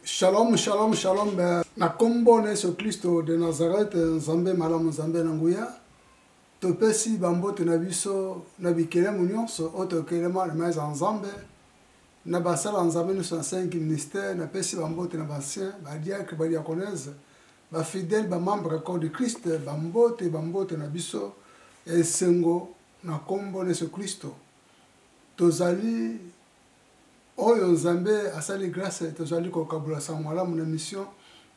shalom shalom shalom eh, na nkombo na yesu klisto de nazareth eh, nzambe malamu nzambe na nguya topesi bambote na biso na bikelemo nyonso oyo tokelema na maeza ya nzambe na basala ya nzambe nyonso na 5 ministère napesi bambote na basien badiacre badiaconese Ba fidèles ba membres ya Corps de Christ, ba mbote, ba mbote na biso ya esengo na kombo na Yesu Klisto. Tozali oyo Nzambe asali grace, tozali kokabola sango malamu na mission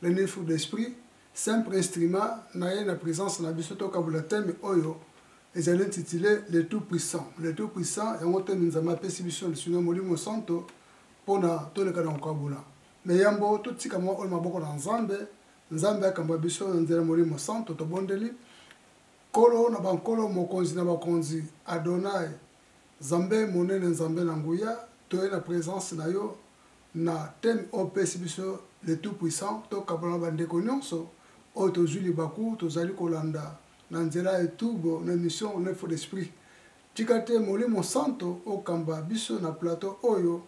Les Neuf Fruits de l'Esprit, simple instrument na ye na presence na biso tokabola thème oyo ezali intitulé Le Tout Puissant. Le Tout Puissant yango thème Nzambe apesi biso lisunga ya Molimo Santo pona toleka na kokabola. Mais yambo totika mwa oyo maboko na Nzambe, Nzambe akamba biso na nzela Molimo Santo, tobondeli. Nkolo na bankolo, Mokonzi na bakonzi, Adonai, Nzambe monene, Nzambe na nguya, toye na presence na yo na thème oyo opesi biso le tout puissant, tokabola na bandeko nionso oyo tozui libaku, tozali kolanda na nzela ya YouTube na emission Neuf d'esprit. Tika te molimo santo okamba biso na plateau oyo.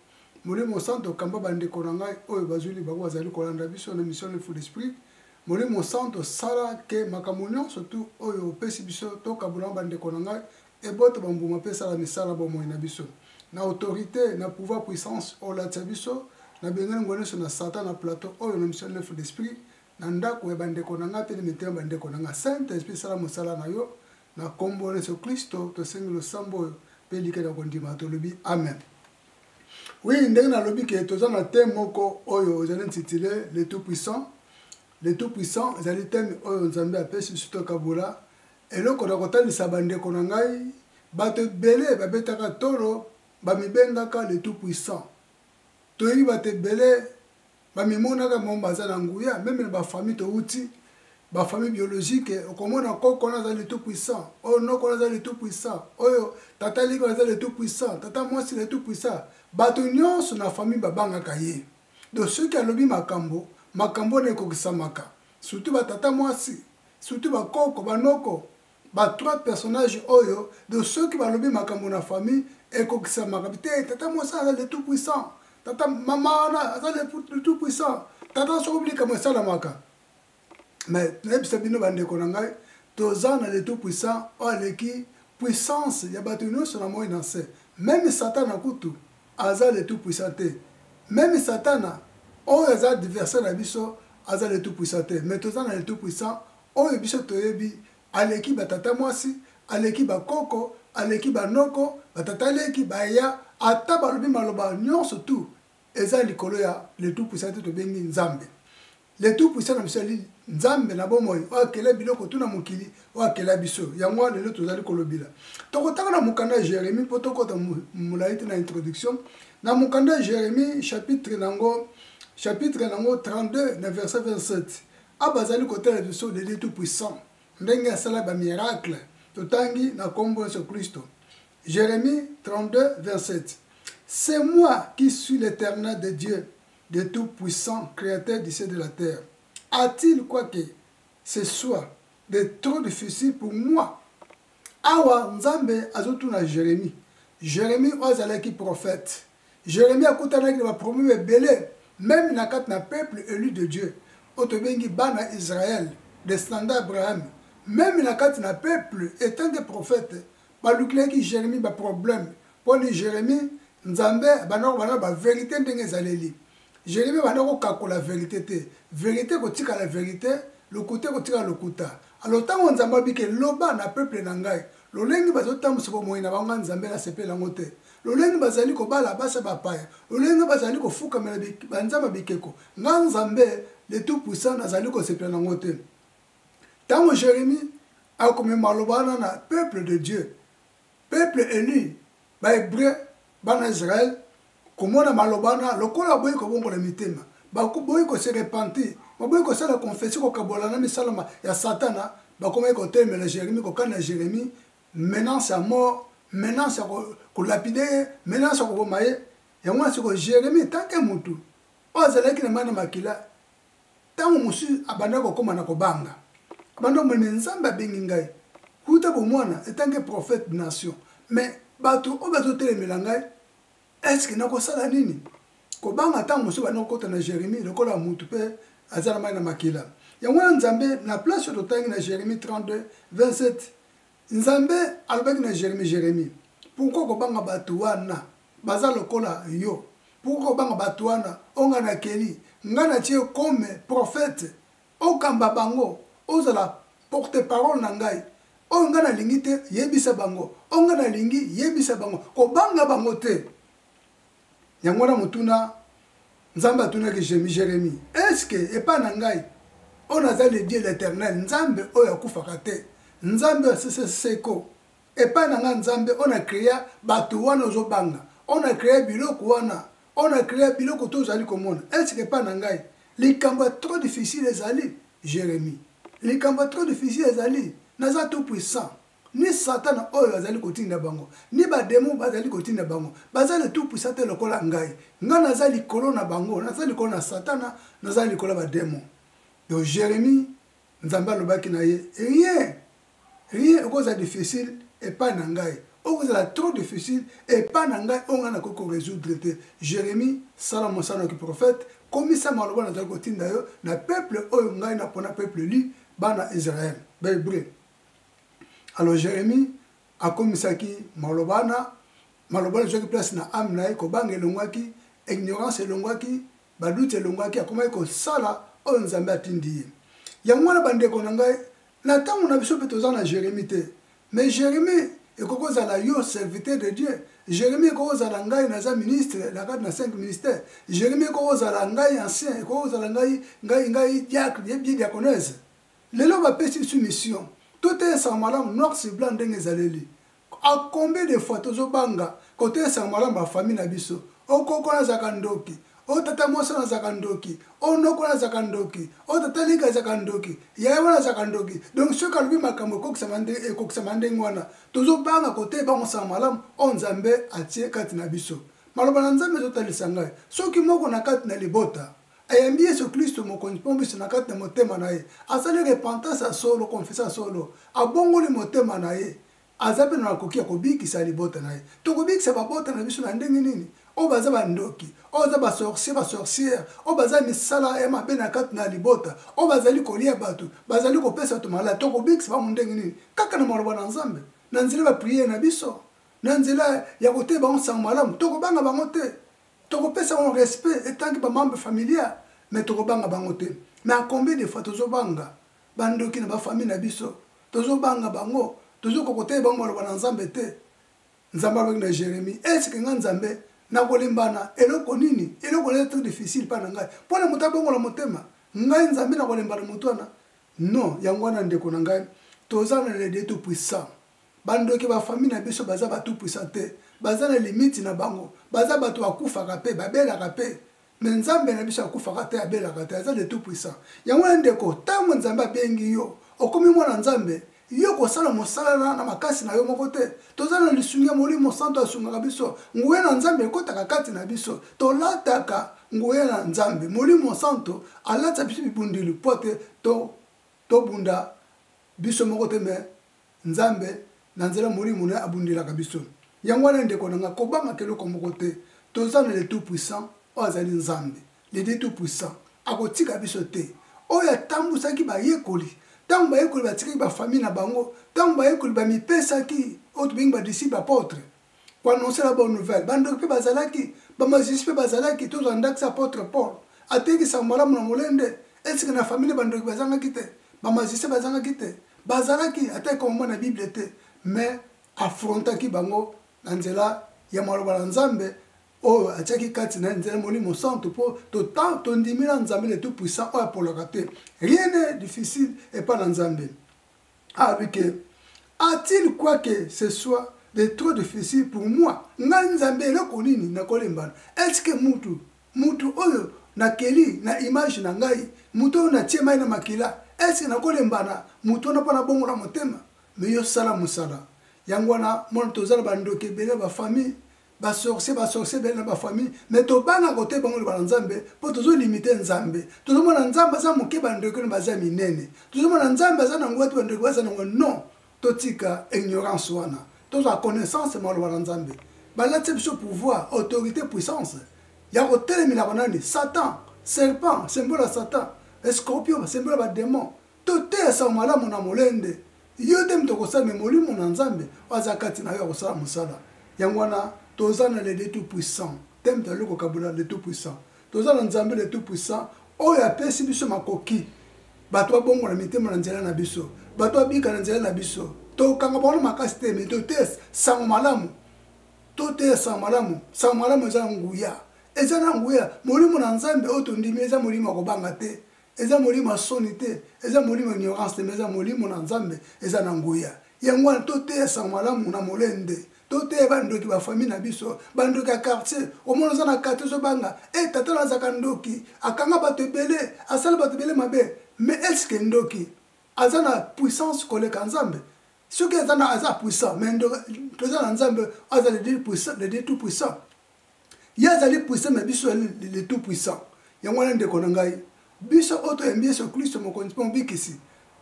Molimo santo kamba ba ndeko na ngai oyo bazui libaku bazali kolanda biso na mission Live Full Esprit. Molimo santo sala ke makambo nionso tout oyo opesi biso tokabola na ba ndeko na ngai ebota ba mbuma pe esala misala ya bomoi na biso. Na autorite, na pouvoir puissance olatisa biso, na bengani nguya nionso na satan na plateau oyo na mission Live Full Esprit, na ndako ya ba ndeko na ngai pe na mitema ya ba ndeko na ngai. Saint Esprit sala mosala na yo Na nkombo na Yesu Klisto, tosengi losambo oyo mpe likela kondima, tolobi amen. Oui, ndenge nalobi ke toza na teme moko oyo ezali intitule le tout puissant. Le tout puissant ezali teme oyo Nzambe apesi Sito Kabula. Eloko na kotalisa bandeko na ngai, bato ebele babetaka tolo, bamibengaka le tout puissant. Toyebi bato ebele bamimonaka bango baza na nguya meme na bafamille touti bafamille biologique okomona koko wana aza le tout puissant oyo noko wana aza le tout puissant oyo tata liki wana aza le tout puissant tata mwasi le tout puissant bato nyonso na famille babangaka ye donc soki alobi makambo makambo wana ekokisamaka surtout batata mwasi surtout bakoko banoko Ba trois personnages oyo donc soki balobi makambo na famille ekokisamaka te tata mwasi aza le tout puissant tata mama wana aza le tout puissant tata soki obi likambo esalamaka mais nayebisa bino bandeko na ngai toza na le tout puissant oyo aleki puissance ya bato nyonso na moi na nse meme satana kutu aza le tout puissant te meme satana oyo aza adversaire na biso aza le tout puissant te mais toza na le tout puissant Oyo biso toyebi, aleki ba tata mwasi, aleki ba koko, aleki ba noko, ba tata leki, ba ya, ata balobi maloba nionso tout eza likolo ya le tout puissant te tobengi Nzambe. Le tout puissant na biso ezali Nzambe na bomoi oyo akela biloko tout na mokili oyo akela biso. Yango wana lelo tozali kolobela. Tokotanga na mokanda ya Jeremie mpo tokota molai te na introduction. Na mokanda ya Jeremie chapitre nango chapitre nango 32 na verset 27. Awa bazali kotala biso le Dieu tout puissant ndenge asala ba miracle totangi na kombo Yesu Klisto. Jeremie 32 27 C'est moi qui suis l'Éternel de Dieu de tout puissant créateur du ciel de la terre. A-t-il quoi que ce soit de trop difficile pour moi awa nzambe azotuna jeremi jeremi oyo azalaki prophète Jeremie akutanaki na ba problème ebele meme na kati na peuple elu de Dieu oyo tobengi bana Israël descendant Abraham meme na kati na peuple etant que prophète balukelaki Jeremie ba problème pona Jeremie Nzambe abandaki koloba na ba verite ndenge ezaleli jeremi banda kokakola verite te verite ekotikala verite lokuta ekotikala lokuta alo ntango nzambe abike loba na peple na ngai lolenge bazotambwisa bomoi na bango nzambe nasepela yango te lolenge bazali kobala basi bapaya lolenge bazali kofukamela banzambe bikeko nga nzambe le tout puissant nazali kosepela na yango te ntango jeremi akomema maloba wana na peuple de dieu Peuple elu, ba Hebreux, bana Israël, komona maloba wana lokola baboyi kobongola mitema, baboyi ko se repentir, baboyi kosala confession, kokabola na misala ya Satana, bakomaki kotelemela Jeremie, kokanela Jeremie menace ya mort, menace ya ko lapider ye, menace ya koboma ye. Yango wana sikoyo Jeremie tant que mutu oyo azalaki na mayi na makila, Ntango mosusu abandaki kokoma na kobanga. Abandaki komona ete Nzambe abengi ngai uta bomwana etant que prophète de nation. Mais bato oyo bazotelemela ngai, est ce que nakosala nini? Kobanga ntango mosusu ebandaki kokota na Jeremie lokola moto mpe aza na mai na makila. Yango wana Nzambe, na place oyo totangi na Jeremie 32, 27, nzambe alobaki na jeremi jeremi pourkui kobanga bato wana baza lokola yo pourkui kobanga bato wana oyo ngai nakeli ngai natie kome profete okamba bango ozala porte parole na ngai oyo ngai nalingi te yebisa bango oyo ngai nalingi yebisa bango kobanga bango te yango wana motuna nzambe atunaki jemi jeremi eske epai na ngai oyo naza le dieu l'éternel nzambe oyo akufaka te nzambe oyo asese seko epai na ngai nzambe oyo na krea bato wana ozobanga oyo na krea biloko wana oyo na krea biloko to ozali komona eske epai na ngai likambo ya trop difficile ezali jeremi likambo ya trop difficile ezali naza tout puissant ni satana oyo azali kotinda bango ni bademo bazali kotinda bango baza le tout puissant te lokola ngai ngai naza likolo na bango naza likolo na satana naza likolo ya bademo donc jérémie nzambe alobaki na ye rien rien okozala difficile epai na ngai okozala trop difficile epai na ngai oyo ngai nakoki koresoudre te jérémie sala mosala na kiprofete komisa maloba nazali kotinda yo na peuple oyo ngai napona peuple li bana israel bahébreu alors jérémi akomisaki maloba wana maloba wana ezwaki place na ame na ye kobanga elongwaki ignorance elongwaki baduti elongwaki akomaki kosala oyo nzambe atindi ye yango wana bandeko na ngai na ntango na biso mpe toza na jérémi te mais jérémi ekoki kozala yo serviteur de dieu jérémi ekoki kozala ngai naza ministre na kati na 5 ministère jérémi ekoki kozala ngai ancien ekoki kozala ngai ngai ngai diacre ye bie diaconese Lelo ba pesi biso mission to telesa malamu noir sur blanc ndenge ezaleli a combien de fois tozo banga ko telesa malamu ba famille na biso o koko na zaka ndoki o tata mwasi na zaka ndoki o noko na zaka ndoki o tata lika zaka ndoki yaya wana zaka ndoki donc soki alobi makambo ekokisama ndenge ekokisama ndenge wana tozo banga ko tele bango sa malamu o nzambe atie kati na biso maloba na nzambe ezo talisa ngai soki moko na kati na libota ayambi yesu klisto mokonzi mpe mobiso na kati na motema na ye asali repentance ya solo konfesa ya solo abongoli motema na ye aza mpe na makoki ya kobikisa libota na ye tokobikisa babota na biso na ndenge nini oyo baza bandoki oyo baza basorcier basorciere oyo baza misala ya mabe na kati na libota oyo bazali kolia bato bazali kopesa bato maladi tokobikisa bango ndenge nini kaka na maloba na nzambe na nzela ya bapriere na biso na nzela ya koteya bango nsango malamu tokobanga bango te tokopesa bango respect etanki bamembre familial mais tokobanga bango te mais a combien de fois tozobanga bandoki na bafamille na biso tozobanga bango tozokoka koteya bango maloba na nzambe te nzambe alobaki na jérémie eske nga nzambe nakolembana eloko nini eloko naza très difficile mpa na ngai mpo na moto abongola motema ngai nzambe nakolembana moto wana non yango wana ndeko na ngai toza na lede tout puissant Bandoki ba famille na biso baza ba tout puissant te baza na limite na bango baza bato bakufaka pe babelaka pe me nzambe na biso akufaka te abelaka te aza de tout puissant yango wana ndeko ntango nzambe abengi yo okomi mwana nzambe yo kosala mosala na, na makasi na yo moko te toza na lisungi ya molimo santo asungaka biso nguya na nzambe ekotaka kati na biso tolataka nguya na nzambe molimo santo alatisa biso bibundeli mpo te tobunda to biso moko te me Nzambe, na nzela ya Molimo na Ye, abundelaka biso. Yango wana, ndeko na ngai, kobangaka eloko moko te. Toza na le Tout Puissant, oyo azali Nzambe, le Dieu Tout Puissant. Akotika biso te. Oyo atambusaki bayekoli, tango bayekoli batikaki ba famille na bango, tango bayekoli bamipesaki, oyo tobengi ba disciples apotres, koannonce la bonne nouvelle bandoki mpe bazalaki bamajisi mpe bazalaki tozwa ndakisa apotre paul ateki sango malamu na molende esika na famille bandoki bazangaki te bamajisi bazangaki te bazalaki ata ekomama na bible te mais afrontaki bango na nzela ya maloba na nzambe oyo atiaki kati na nzela molimo santu mpo tondimi na nzambe le tout puissant oyo apolaka te rien ne difficile epai na nzambe alobi ke a-t-il quoi que ce soit de trop difficile pour moi ngai nzambe eloko nini nakolembana eske mutu mutu oyo nakeli na image na ngai moto oyo natie mai na makila eske nakolembana moto wana mpo nabongola motema me yo sala mosala yango wana mwana tozala bandoki ebele bafamille ba sorcier ba sorcier belle na ba famille mais tobanga kote bango loba na nzambe mpo tozolimite nzambe tozomona nzambe aza moke bandeko na baza minene tozomona nzambe aza na nguya te bandeko baza nango non totika ignorance wana tozwa connaissance maloba na nzambe balatisa biso pouvoir autorité puissance ya kotelemelaka nani satan serpent sembola satan escorpion sembola bademon Toteya sango malamu na molende. Yo te moto akosala me molimo na Nzambe oyo aza kati na yo akosala mosala. Yango wana toza na le de tout puissant te moto aluki kokabola le tout puissant. Toza na Nzambe le tout puissant oyo apesi biso makoki bato babongola mitema na nzela na biso, bato babika na nzela na biso. Tokanga bango na makasi te me toteya sango malamu. Toteya sango malamu. Sango malamu eza na nguya. Eza na nguya. Molimo na Nzambe oyo tondimi eza molimo ya kobanga te. eza molimo ya soni te eza molimo ya ignorance te me eza molimo na nzambe eza na nguya yango wana toteya sango malamu na molende toteya bandoki bafamille na biso bandoki ya quartier omona oza na quartier ozobanga e eh, tata nazaka ndoki akanga bato ebele asala bato ebele mabe me eske ndoki aza na puissance koleka nzambe soki aza na aza puissant me toza na nzambe aza le dieu tout puissant ye azali puissant mais biso ezali le tout puissant yango wana ndeko na ngai biso oyo toyambi yesu klisto mokonzi mpe mobikisi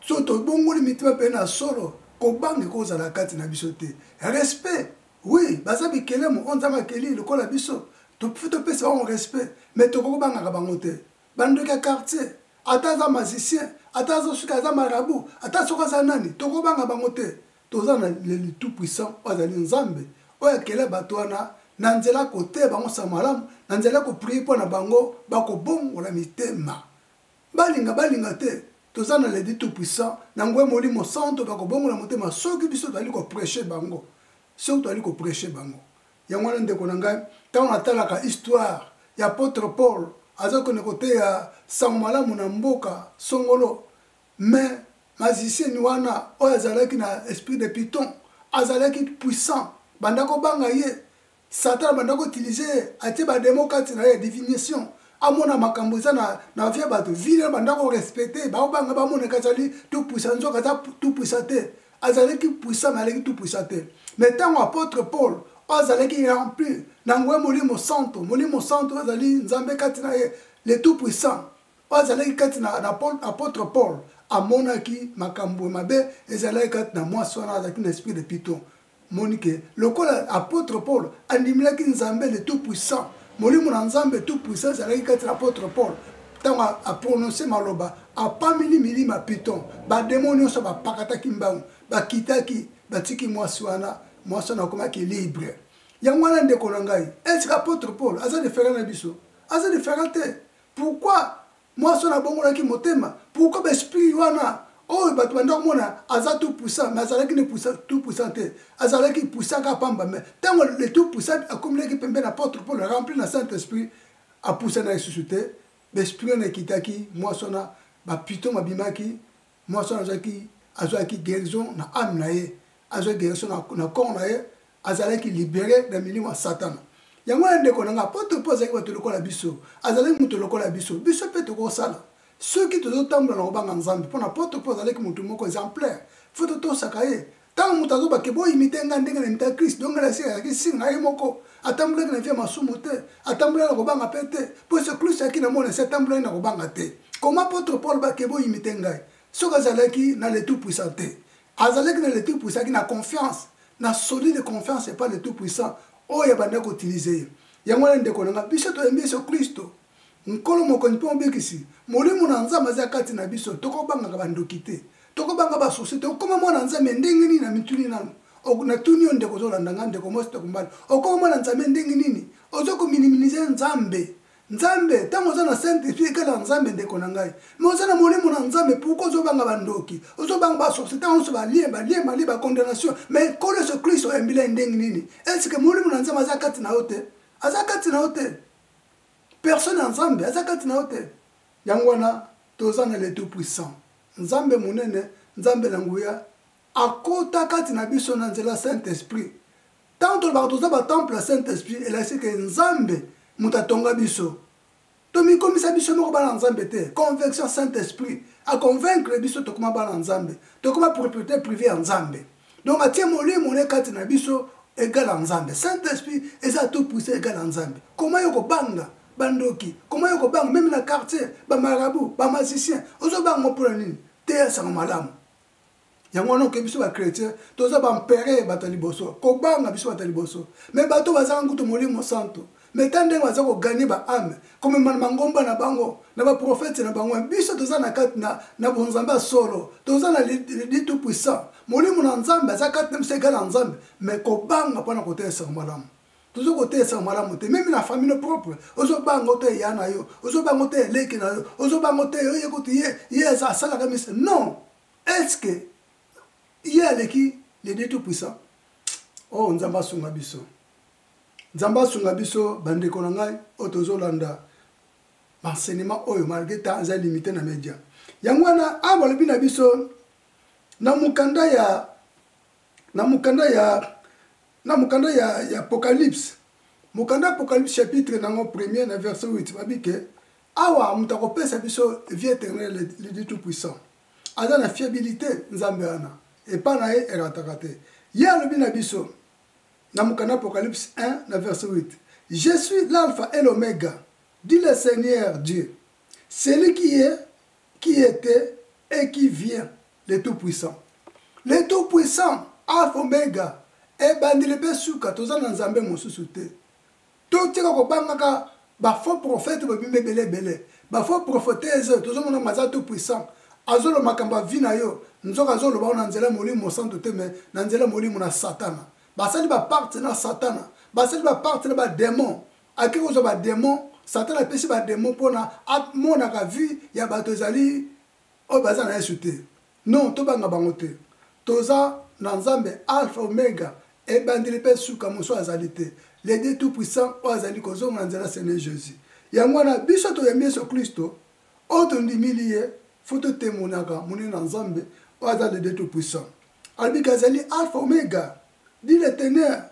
so tobongoli mitima mpe na solo kobanga ekozala kati na biso te respect oui baza bikelemo oyo nzambe akeli lokola biso tofi topesa bango respect mais tokoki kobangaka bango te bandoki ya quartier ata aza magicien ata azosuki aza marabu ata soki aza nani tokobanga bango te Toza na le tout puissant oyo azali Nzambe oyo akela bato wana na nzela koteya bango nsango malamu, na nzela ya koprie mpo na bango bakobongola mitema balinga balinga te. Toza na le tout puissant na nguya Molimo Santo bakobongola motema soki biso tozali kopreche bango, soki tozali kopreche bango. Yango wana ndeko na ngai, ntango natalaka histoire ya apotre Paul azali kokende koteya nsango malamu na mboka songolo, mais magicienne wana oyo azalaki na esprit de piton azalaki puissant banda kobanga ye satan banda koutilize ye atie bademo kati na ye divination amona makambo eza na, na vie ya bato vile banda korespecte baobanga bamonaka azali tout puissant nzoka aza tout puissant te azalaki puissant me aleki tout puissant te me ntango apôtre paul oyo azalaki rempli na ngwe molimo santo molimo santo azali nzambe kati na ye le tout puissant oyo azalaki kati na apotre paul amonaki makambo mabe ezalaki kati na mwasi wana azalaki na esprit de piton moni ke lokola apotre paul andimelaki nzambe le tout puissant molimo na nzambe tout puissant ezalaki kati na apotre paul ntango aprononse maloba apameli milima piton bademo nyonso bapakataki mbangu bakitaki batiki mwasi wana mwasi wana akomaki libre yango wana ndeko na ngai eske apotre paul aza diferent na biso aza diferent te Pourquoi mwasi wana abongolaki motema? Pourquoi ba esprit wana oyo bato banda komona aza tout puissant mais azalaki ne tout puissant te azalaki puissant kaka pamba mais ntango le tout puissant akomelaki pembe na porte pole rempli na saint esprit apusana lisusu te baesprit wana ekitaki mwasi wana bapito mabimaki mwasi wana azalaki azwaki guérison na ame na ye azwaki guérison na corps na ye azalaki libere na milimo ya satana yango ya ndeko na ngai apotre mpo azalaki bato lokola biso azalaki moto lokola biso biso mpe tokosala soki tozotambola na kobanga nzambe mpo na apotre mpo azalaki moto moko exemplaire fo totosaka ye ntango moto azoba ke boimite ngai ndenge na imita kristo donc ngai nasika ezalaki singa ye moko atambolaki na vie ya masumu te atambolaki na kobanga mpe te mpo yesu kristo ayaki na mona se atambolaki na kobanga te koma apotre paul bake boimite ngai soki azalaki na le tout puissant te azalaki na le tout puissant ki na confiance na solide confiance epa le tout puissant oyo abandaki kotilize ye yango wana ndeko na ngai biso toyembi yesu kristo Nkolo Mokonzi mpe Mobikisi, Molimo na Nzambe azali kati na biso, tokobangaka bandoki te, tokobanga ba soucis te, okoma mwana Nzambe ndenge nini namituni nanu, natuni yo ndeko ozolanda ngai, ndeko mwasi, ndeko mobali, okoma mwana Nzambe ndenge nini, ozo ko miniminiser Nzambe, Nzambe, tango oza na Saint Esprit ekela ya Nzambe ndeko na ngai, mais oza na Molimo na Nzambe pourquoi ozobanga bandoki, ozobanga ba sorciers tango nionso ba liens, ba liens, ba liens, ba condamnation, mais Nkolo Yesu Klisto ayambeli ya ndenge nini, est ce que Molimo na Nzambe aza kati na yo te? Aza kati na yo te? personne ya nzambe aza kati na yo te yango wana toza na le tout puissant nzambe monene nzambe na nguya akota kati na biso na nzela saint esprit ntango tolobaka toza batemple ya saint esprit elakisi ke nzambe moto atonga biso tomikomisa biso moko bana nzambe te convection saint esprit aconvaincre biso tokoma bana nzambe tokoma propriété privé ya nzambe donc atie molimo ne kati na biso egala nzambe saint esprit eza tout puissant egala nzambe koma yo kobanga bandoki koma yo kobanga meme na quartier bamarabu bamasicien ozobanga ngo mpona nini teya sango malamu yango wana okebi biso bachrétien toza bampere bato ya liboso kobanga biso bato ya liboso me bato bazanga kutu molimo santo mais ta ndenge baza ko gagner ba ame komema na mangomba na bango na baprofete na bango biso toza na kati na, na bonzambe ya solo toza na lidi tout puissant molimo na nzambe aza kati na biso egala nzambe mais kobanga mpo na kotelesaka malamu toza kotelesaka malamu te meme na famille propre ozobanga oto eya na yo ozobanga oto eleki na yo ozobanga oto oye kutu ye ye asalaka misa non est ce que ye aleki lidi tout puissant oyo oh, nzambe asunga biso Nzambe asunga biso ba ndeko na ngai oyo tozo landa ba enseignement oyo malgré temps eza limite na media. Yango wana awa balobi na biso na mukanda ya na mukanda ya na mukanda ya ya Apocalypse mukanda Apocalypse chapitre nango premier na verset 8 babi ke awa moto akopesa biso vie éternelle le Dieu tout puissant aza na fiabilité Nzambe wana epa na ye erataka te ye alobi na biso na mokanda apocalypse 1 na verset 8 je suis l'alpha et l'omega dit le seigneur dieu celui qui est qui était et qui vient le tout puissant le tout puissant alpha omega ebandeli mpe suka toza na nzambe mosusu te To tika ko banga ka ba faux prophète bo bimi ebele ebele. Ba faux prophetese oyo tozo mona maza tout puissant. Azo loba makambo ya vie na yo nzoka azo loba yango na nzela ya molimo mosantu te mais na nzela ya molimo na satana. Ba sali ba pacte na satana. Ba sali ba pacte na ba demon. Ake ko zwa ba demon satana apesi ba demon pona a monaka vie ya bato ezali oyo baza na yesu te. Non tobanga bango te toza Na nzambe alpha omega ebandeli pe suka mosusu azali te le Dieu tout puissant oyo azali kozonga na nzela sene Jesus yango wana biso toyambi yesu klisto oyo tondimili ye fo totemonaka monene na nzambe oyo aza le Dieu tout puissant alobiki azali alpha omega dit le teneur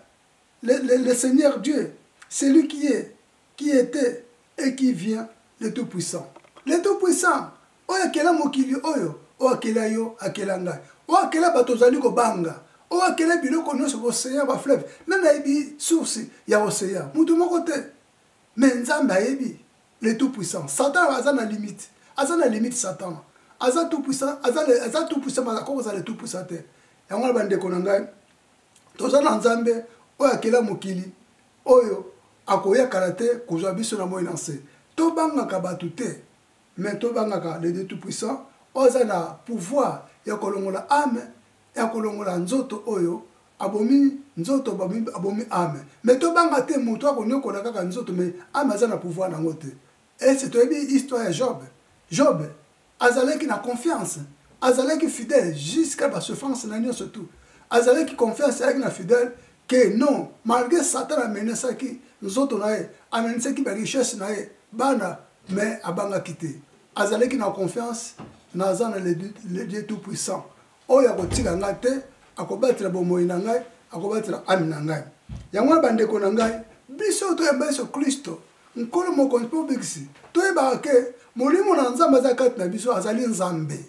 le, le, le seigneur Dieu celui qui est qui était et qui vient le tout puissant le tout puissant oyo akela mokili oyo oyo akela yo akela ngai oyo akela bato ozali kobanga oyo akela biloko nyonso ocean bafleuve nani ayebi source ya ocean moto moko te me nzambe ayebi le tout puissant satan aza na limite aza na limite satan aza tout puissant aza tout puissant akoki kozala le tout puissant te yango na bandeko na ngai toza na nzambe oyo akela mokili oyo akoya kala te kozwa biso na moi na nse tobangaka bato te mais to bangaka le Dieu tout puissant oza na pouvoir ya kolongola ame ya kolongola nzoto oyo abomi nzoto abomi, abomi ame mais to banga te moto akonyokola kaka nzoto mais ame aza na pouvoir nango te ese toyebi histoire ya Job Job azalaki na confiance azalaki fidèle jusqu'à ba souffrance na nyonso tout azalaki confiance ayaki na fidèle que non malgré Satan amenasaki nzoto na ye amenasaki ba richesse na ye bana mais abangaki te azalaki na confiance naza na le dieu tout puissant oyo akotika ngai te akobatela bomoi na ngai akobatela ame na ngai yango wana bandeko na ngai biso toyamba yesu kristo nkolo mokonzi mpe obikisi toyebaka ke molimo na nzambe aza kati na biso azali nzambe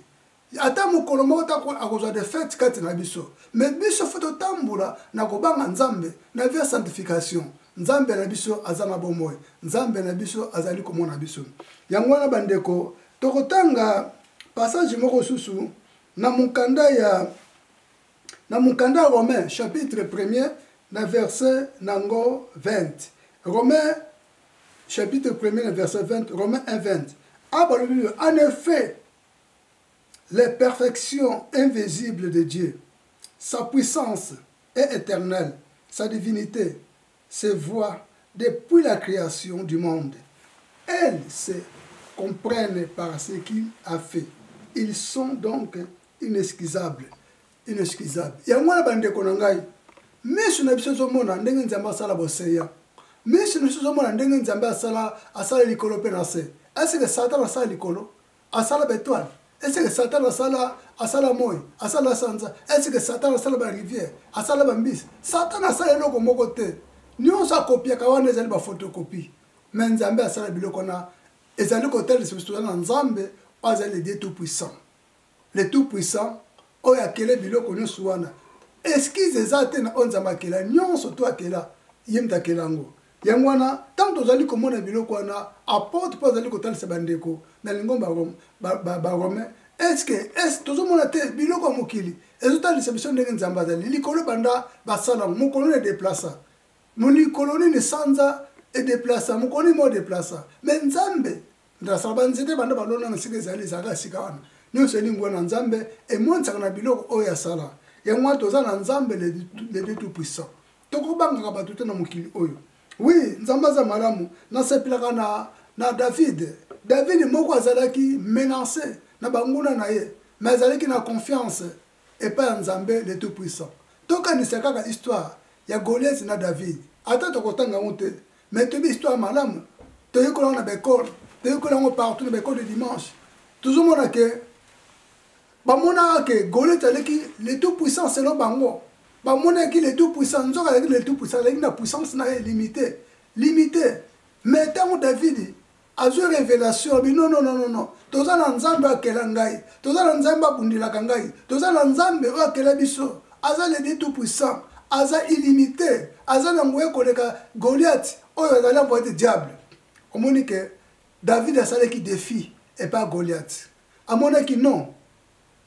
ata mokolo moko te akozwa defete kati na biso me biso fo totambola na kobanga nzambe na vie ya sanctification nzambe na biso aza na bomoi nzambe na biso azali komona biso yango wana bandeko tokotanga passage moko susu na mokanda ya na mokanda romain chapitre 1er na verset nango 20 romain chapitre 1er na verset 20 romain 1 20 abalobi en effet Les perfections invisibles de Dieu, sa puissance est eternelle, sa divinite se voit depuis la creation du monde. Elles se comprennent par ce qu'il a fait. Ils sont donc inexcusables. Inexcusables. Yango wana bandeko na ngai, miso na biso ezomona ndenge Nzambe asala boseya. Miso na biso ezomona ndenge Nzambe asala asala likolo mpe na se. Est-ce que Satan asala likolo? asala betoile eseke satana asala asala moi asala sanza eseke satana asala barivière asala bambisi satana asala eloko moko te nyonso akopiaka wana ezali bafotocopie me nzambe asala biloko wana ezali kotalisa biso tozali na nzambe oyo azali ledie tout puissant le tout puissant oyo akele biloko nyonso wana eskize eza te na oyo nzambe akela nyonso to akela ye moto akela yango Yango wana, ntango tozali komona biloko wana, apotre mpo azali kotalisa bandeko na lingomba barome, eske es tozomona te biloko ya mokili ezotalisa biso ndenge nzambe azali likolo banda basala yango mokolo na edeplasa molikolo nini sanza edeplasa mokolo nini modeplasa me nzambe ndasala banzete banda balona na sika ezali ezalaka sika wana nyonso elingwa na nzambe emonisaka na biloko oyo asala yango wana toza na nzambe le tout puissant tokobangaka bato te na mokili oyo wi nzambe aza malamu nasepelaka na, na david david moko azalaki menance na banguna na ye me azalaki na confiance epai ya nzambe le tout puissant tokanisa kaka histoire ya goliath na david ata tokotanga yango te me toyebi histoire malamu toyekola yango na baekole toyekola yango partout na baekole de dimanche tozomona ke Bamonaka que Goliath aleki le tout puissant selon bango. Bamonaki le tout puissant, nzoka aleki le tout puissant, aleki na puissance na ye limite, limite. Mais tango David azwi revelation bi non non non non toza na nzambe akela ngai toza na nzambe abundelaka ngai toza na nzambe oyo akela biso aza le dieu tout puissant aza illimité aza na nguya koleka goliath oyo azali envoye te diable omoni ke david asalaki défi epa goliath Amonaki non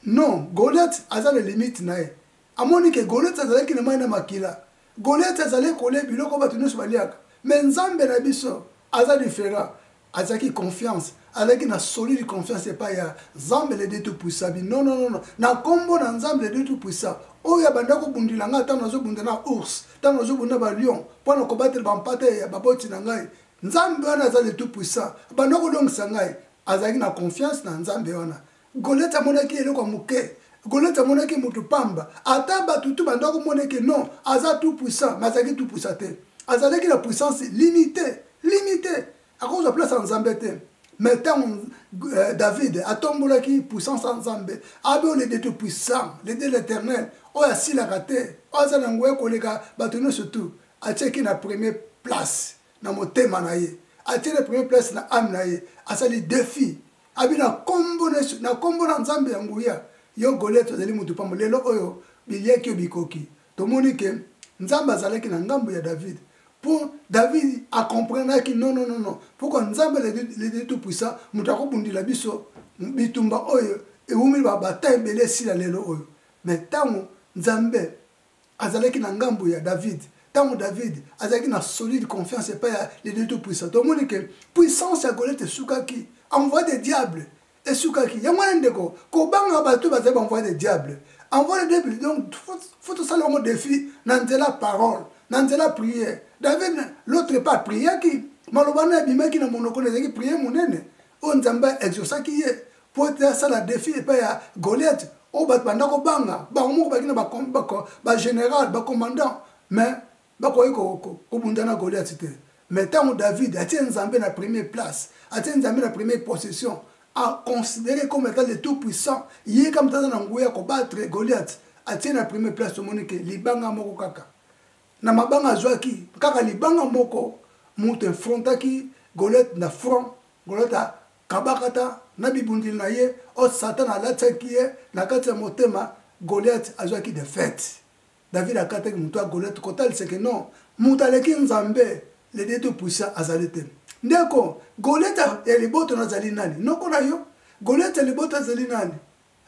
non Goliath aza na limite na ye. Amoni ke Goliath azalaki na mayi na makila. Goliath azalaki kolia biloko oyo batu nionso baliaka. Mais Nzambe na biso aza different. Azalaki confiance, azalaki na solide confiance epayi ya Nzambe le Dieu tout puissant. Abi non non non na kombo na Nzambe le Dieu tout puissant oyo abanda kobundela ngai tango nazobunda na ours, tango nazobunda na ba lion pona kobatela ba mpate ya baboti na ngai. nzambe wana aza le tout puissant abanda kolongisa ngai azalaki na confiance na nzambe wana golete amonaki eloko ya moke golete amonaki moto pamba ata bato tu banda komona eke non aza tout puissant ma azalaki tout puissant te azalaki na puissance limité limité akozwa place ya nzambe te mais ntango euh, david atombolaki puissance ya nzambe abe oyo lede tout puissant lede l'éternel oyo asilaka te oyo aza na nguya koleka bato nyonso tu atiaki na premier place na motema na ye atie na premier place na ame na ye asali defi abi na kombo na yesu na kombo na nzambe ya nguya yo goliate ozali motu pambo lelo oyo biliaki yo bikoki tomoni ke nzambe azalaki na ngambo ya david mpo david akomprenaki non non non non mpokua nzambe ledi tout puissant moto akobundela biso bitumba oyo ewumeli babata ebele esila lelo oyo me ntango nzambe azalaki na ngambo ya David ntango David azalaki na solide confiance epai ya le Dieu tout puissant tomoni ke puissance ya Goliath esukaki envoi de diable esukaki yango wana ndeko kobanga bato bazali baenvoi de diable envoi de diable donc fo tosala yango défi na nzela parole na nzela prière david l'autre part priaki maloba na ebimaki na monoko na ezalaki prière monene oyo nzambe a exaucaki ye mpo ete asala defi epai ya goliate oyo bato banda kobanga bango moko baki na bageneral bacommandant mais bakoki kobunda na goliate te mais ntango david atie nzambe na premier place atie nzambe na premier possession aconsidere comme étant le tout puissant ye kama taza na nguya ya kobattre goliate atie na premier place tomoni ke libanga moko kaka na mabanga azwaki kaka libanga moko mutu enfrontaki golete na front golete akabakata na bibundeli na ye o oh, satana alatisaki ye na kati ya motema goliate azwaki defete david akataki motu ya goliate kotaliseke non moto aleki nzambe le dieu tout puissant azali te ndeko goliate ya liboto nazali nani noko na yo goliate ya liboto azali nani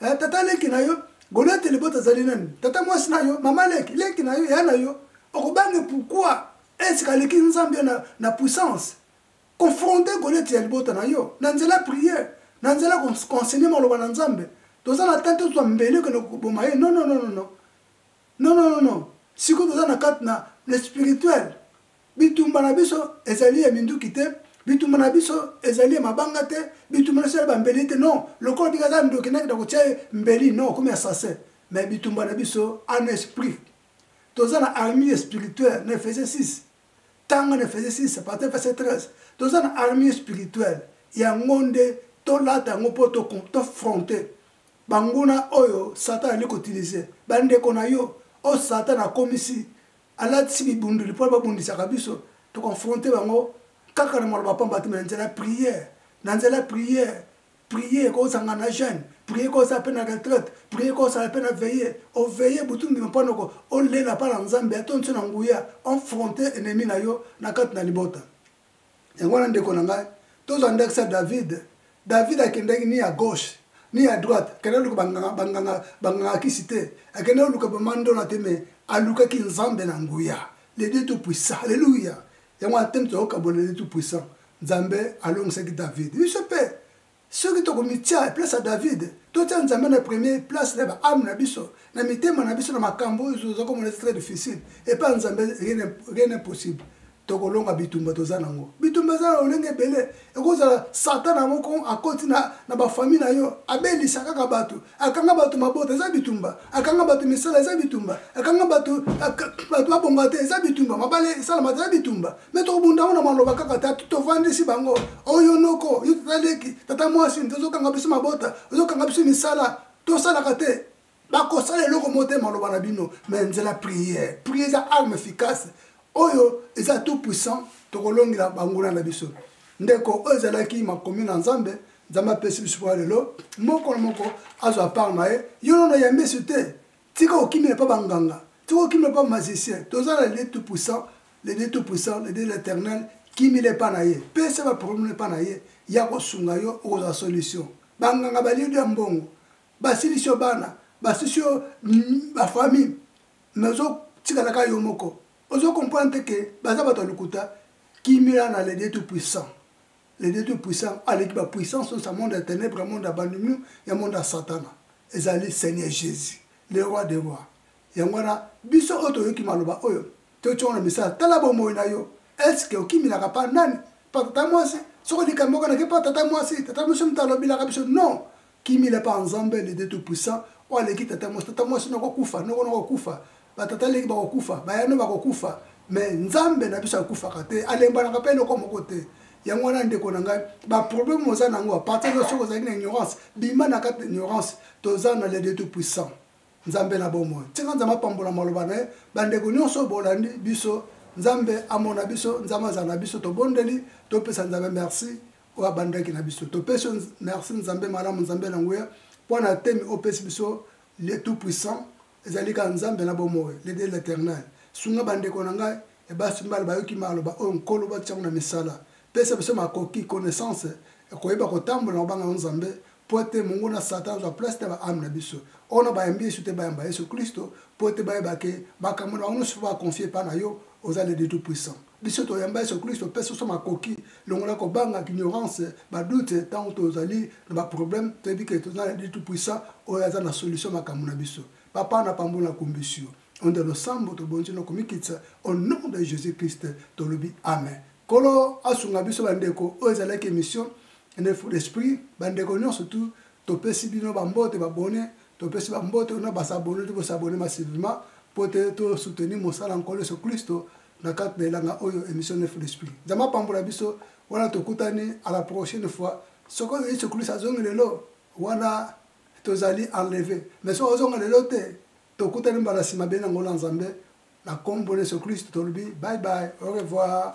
eh, tata leki na yo goliate libota azali nani tata mwasi na yo mama leki leki na yo ya na yo okobange pourkui esika aleki nzambe na, na puissance confronte goliate ya libota na yo na nzela priere na nzela konsenye maloba na nzambe toza na tante tozwa mbeli okende koboma ye non non non non non non non non sikoyo toza na kati na le spirituel Bitumba na biso ezali ya minduki te, bitumba na biso ezali ya mabanga te, bitumba na biso ezali bambeli te, non. Lokola bika aza ndoki nakita kotia ye mbeli, non, akomi assassin. Mais bitumba na biso en esprit. Toza na armée spirituelle na Efese 6. Tanga na Efese 6, partir verset 13. Toza na armée spirituelle. Yango nde tolata yango mpo tofronte banguna oyo Satan ali kotilize bandeko na yo oyo Satan akomisi alatisi bibundeli mpo babundisaka biso toconfronte bango kaka na maloba pamba te me na nzela ya priere na nzela ya priere prier kozanga na jeune prier kozala mpe na retraite prier kozala mpe na veille oveille butu ndima mpo noko olela mpa na nzambe atonso na nguya enfronte ennemi na yo na kati na libota yango wana ndeko na ngai tozwa ndakisa david david akendaki ni ya gauche ni ya droite akendaki luka banganga kisi te akendaki luka bamandola te me alukaki nzambe na nguya le dieu tout puissant alleluya yango wana teme toyoka bole le dieu tout puissant nzambe alongisaki david biso mpe soki tokomitya na place ya david totya nzambe na premier place na baame na biso na mitema na biso na makambo oyo toza komona eza très difficile epa ya nzambe rien impossible tokolonga bitumba toza nango bitumba eza na lolenge ebele ekozala satana moko akoti na, na bafamille na yo abelisa kaka bato akanga bato mabota eza bitumba akanga bato misala eza bitumba akanga bato bato babonga te eza bitumba mabale esalama te eza bitumba me tokobunda yango na maloba kaka ta tovandisi bango oyo noko yo tata leki tata mwasi tozokanga biso mabota ozokanga biso misala tosalaka te bakosala eloko mo te maloba na bino me nzela priere priere eza arme efficace oyo eza tout puissant tokolongela banguna na biso ndeko oyo ezalaki makomi na nzambe nzambe apesi biso mpo ya lelo moko na moko azwa part na ye yo nono ya misu te tika okimela mpo banganga tika okimela mpo magicien toza na lede tout puissant lede tout puissant lede l'éternel kimila epa na ye pesa baproblème epa na ye ya kosunga yo okozwa solution banganga baliedo ya mbongo basilisi yo bana basilisi yo bafamille mais ozo tikala ka yo moko ozo comprendre te ke baza bato ya lokuta kimia na le dieu tout puissant le dieu tout puissant aleki ba puissance osa monde ya ténèbre ya monde ya bandimio ya monde ya satana ezali seigneur jésus le roi de roi yango wana biso oyo toyoki maloba oyo totyongo na misala tala bomoi na yo eske okiminaka pa nani pa tata mwasi soko likambo oko nake pa tata mwasi tata mwasi moto alobelaka biso non Kimila pa nzambe le deux tout puissant oyo aleki tata mwasi tata mwasi noko kufa noko noko kufa batata leki bakokufa bayano bakokufa me nzambe na biso akufaka te alembanaka mpe eloko moko te yango wana ndeko na ngai baproblème oza na yango apartir de soki ozalaki na ignorance bima na kati na ignorance toza na le de tout puissant nzambe na bomoi ntinga nzambe apambola maloba na ye bandeko nyonso bolandi biso nzambe amona biso nzambe azala na biso tobondeli topesa nzambe merci oyo abandaki na biso topesi merci nzambe malamu nzambe na nguya mpo na temi opesi biso le tout puissant ezali kaka nzambe na bomoi le de l'éternel sunga bandeko na ngai ebasi mbala bayoki maloba oyo nkolo batiango na misala pesa biso makoki connaissance ekoyeba kotambola na kobanga yo nzambe mpo ete mongo na satan azwa place na baame na biso ono bayambi yesu te bayamba yesu klisto mpo ete bayeba ke makambo na bango nyonso mpo bakonfie epai na yo oza le tout puissant biso toyamba yesu klisto mpe soso makoki longola kobanga ignorance badute ntango tozali na baproblème toyebi ke toza na le tout puissant oyo aza na solution makambo na biso papa na pambo na kumbisi yo onde losambo tobonzi na komikitisa au nom de jésus christ tolobi amen Kolo asunga biso bandeko oyo ezalaki emission ene fou d'esprit bandeko nyonso tu topesi bino bambote babone topesi bambote ona basabone te bosabone massivement mpo te tosoutenir mosala nkolo yesu klisto na kati na elanga oyo emission ene fou d'esprit nzambe apambola biso wana tokutani à la prochaine fois soki oyo yesu klisto azongi lelo wana tozali enleve mais soki ozonga lelo te Tokutani mbala sima beni na ngola Nzambe na kombo na Yesu Kristo tolobi bye bye au revoir.